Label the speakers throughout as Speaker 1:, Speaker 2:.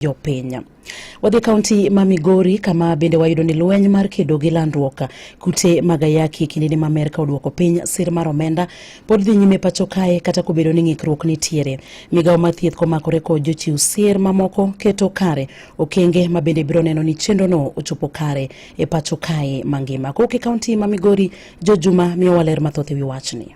Speaker 1: jopiny. Wadhi e kaunti ma Migori kama bende wayudo ni lweny mar kedo gi landruok kute mag ayaki kindeni ma Amerka oduoko piny sir mar omenda pod dhi nyime pacho kae kata kobedo ni ng'ikruok nitiere. Migawo mar thieth komakore kod jochiw sir mamoko keto kare okenge ma bende biro neno ni chenrono ochopo kare e pacho kae mangima. Kowuok e kaunti ma Migori, Jo Juma miyo waler mathoth e wi wachni.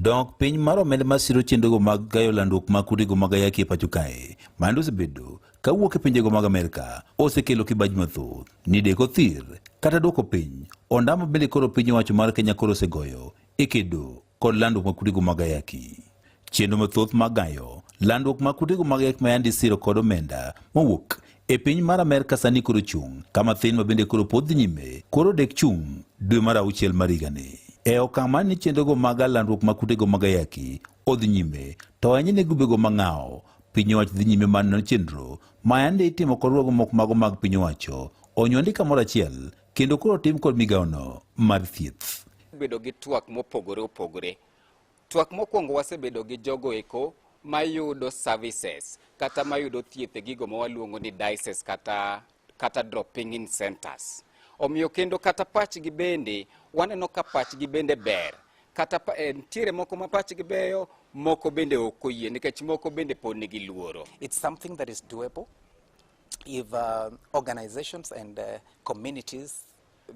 Speaker 1: Dok piny mar omenda ma siro chenrogo mag gayo landruok mag kutego mag ayaki e pacho kae mande osebedo ka wuok e pinjego mag Amerka osekelo kibaji mathoth ni deko thir kata dwoko piny ondamo bende koro piny owacho mar Kenya koro osegoyo e kedo kod landruok mag kutego mag ayaki. Chenro mathoth mag gayo landruok mag kutego mag ayaki mayandi siro kod omenda mowuok e piny mar Amerka sani koro chung' kama thin ma bende koro pod dhi nyime koro dek chung' dwe mar auchiel mar higani. E okang' mar ni chenrogo mag landruok mag kutego mag ayaki odhi nyime to ahinya ne grubego mang'awo piny owacho dhi nyime mar nono chenro ma yande itimo kod ruogo moko mago mag piny owacho onyuandi kamoro achiel kendo koro tim kod migawono mar thieth. Bedo gi twak mopogore opogore. Twak mokwongo wasebedo gi jogo eko mayudo services kata mayudo thieth e gigo ma waluongo ni dices kata, kata dropping in centers. Omiyo kendo kata pachgi bende waneno ka pachgi bende ber kata eh, nitiere moko ma pachgi beyo moko bende ok oyie nikech moko bende pod nigi luoro. It's something that is doable. if uh, organizations and uh, communities,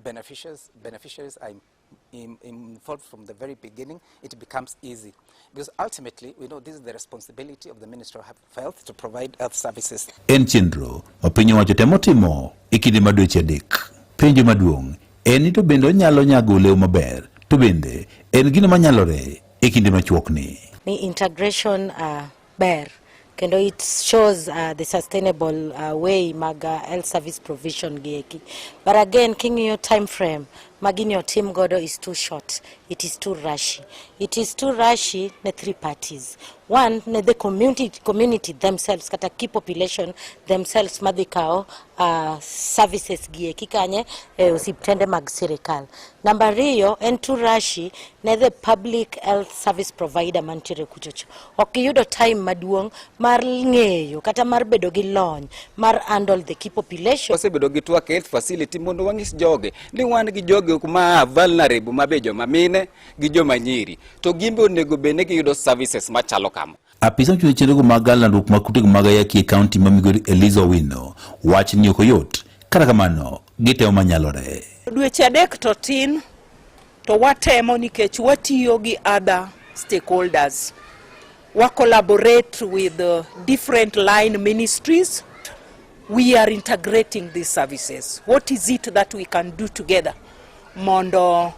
Speaker 1: beneficiaries, beneficiaries are in, involved from the very beginning, it becomes easy. Because ultimately, we know this is the responsibility of the Minister of Health to provide health services. En chenro ma piny owacho temo timo e kinde ma dweche adek. Penjo maduong' en ni to bende onyalo nyago olew maber, to bende en gino manyalore e kinde machuokni. Ni integration uh, ber kendo it shows uh, the sustainable uh, way mag uh, health service provision gi eki but again king'iyo time frame ma gini otim godo is too short it is too rushy it is too rushy ne three parties one ne the community, community themselves kata key population themselves madhi kawo uh, services gi eki kanye e osiptende mag sirikal namba riyo en too rushy ne the public health service provider mantiere kuchocho ok giyudo time maduong' mar ng'eyo kata mar bedo gi lony mar handle the key population. Wasebedo gi twak health facility mondo wang'is joge ni wan gi joge ma vulnerable ma be joma mine gi joma nyiri to gin be onego bed ni giyudo services machalo kama. Apisa ochweyo chenrogo mag landruok mag kutego mag ayaki e kaunti ma Migori Eliza Owino wach ni ok oyot kata kamano gitemo manyalore. Dweche adek to tin To watemo nikech watiyo gi other stakeholders. We collaborate with uh, different line ministries. We are integrating these services. What is it that we can do together? Mondo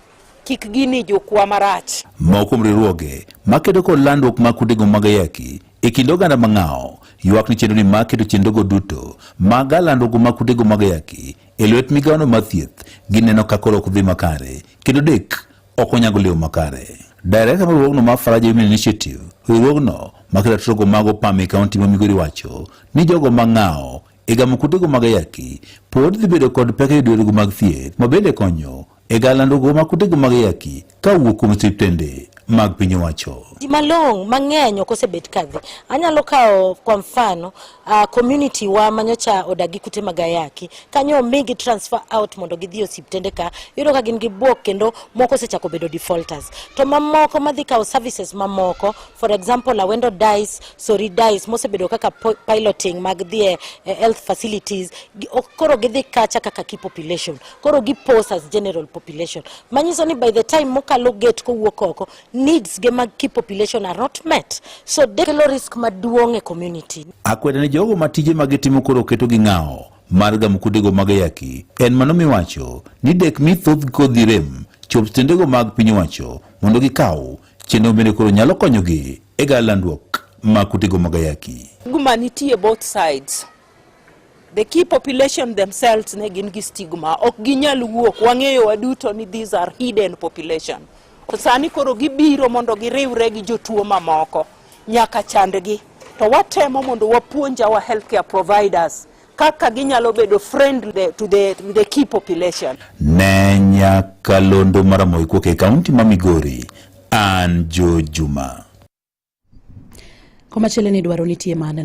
Speaker 1: kik gini jokwa marach. Moko kuom riwruoge makedo kod landruok mag kudego mag ayaki e kind oganda mang'awo ywak ni chenro ni makedo chenrogo duto mag landruok mag kudego mag ayaki e lwet migawono mar thieth gineno ka koro ok dhi makare kendo dek ok onyago lewo makare Direkta mar riwruogno mar Faraja Women Initiative, riwruogno ma kelo ratiro mag opam e kaunti ma Migori wacho ni jogo ma ng'awo e gamo kutego mag ayaki pod dhi bedo kod pek e yudo yore mag thieth ma bende konyo e galandogo ma kutego mag yaki ka wuok kuom siptende mag piny owacho. Ji malong' mang'eny ok osebet kadhi. Anyalo kawo kwa mfano uh, community wa manyocha odagi kute mag ayaki kanyo omigi transfer out mondo gidhi osiptende ka yudo ka gin gi bwok kendo moko osechako bedo defaulters to mamoko madhi kawo services mamoko for example Awendo Dice, Sori Dice mosebedo kaka piloting mag dhi e, e health facilities koro gidhi kacha kaka key population koro gi pose as general population manyiso ni by the time mokalo gate kowuok oko needs ge mag key population are not met so kelo risk maduong' e community. Akwede ni jogo ma tije ma gitimo koro oketo gi ng'awo mar gamo kudego mag ayaki en mano miwacho ni dek mi thoth kodhi rem chop stendego mag piny owacho mondo gikaw chenro bende koro nyalo konyogi e ga landruok ma kutego mag ayaki. Guma nitie both sides. The key population themselves ne gin gi stigma, ok ginyal wuok. Wang'eyo waduto ni these are hidden population. Sani koro gibiro mondo giriwre gi jotuo mamoko nyaka chandgi, to watemo mondo wapuonj our healthcare providers kaka ginyalo bedo friendly to the, to the key population. Ne Nyakalondo Maramogi kuok e kaunti ma Migori, an Joe Juma. Komachielo ni dwaro nitie maneno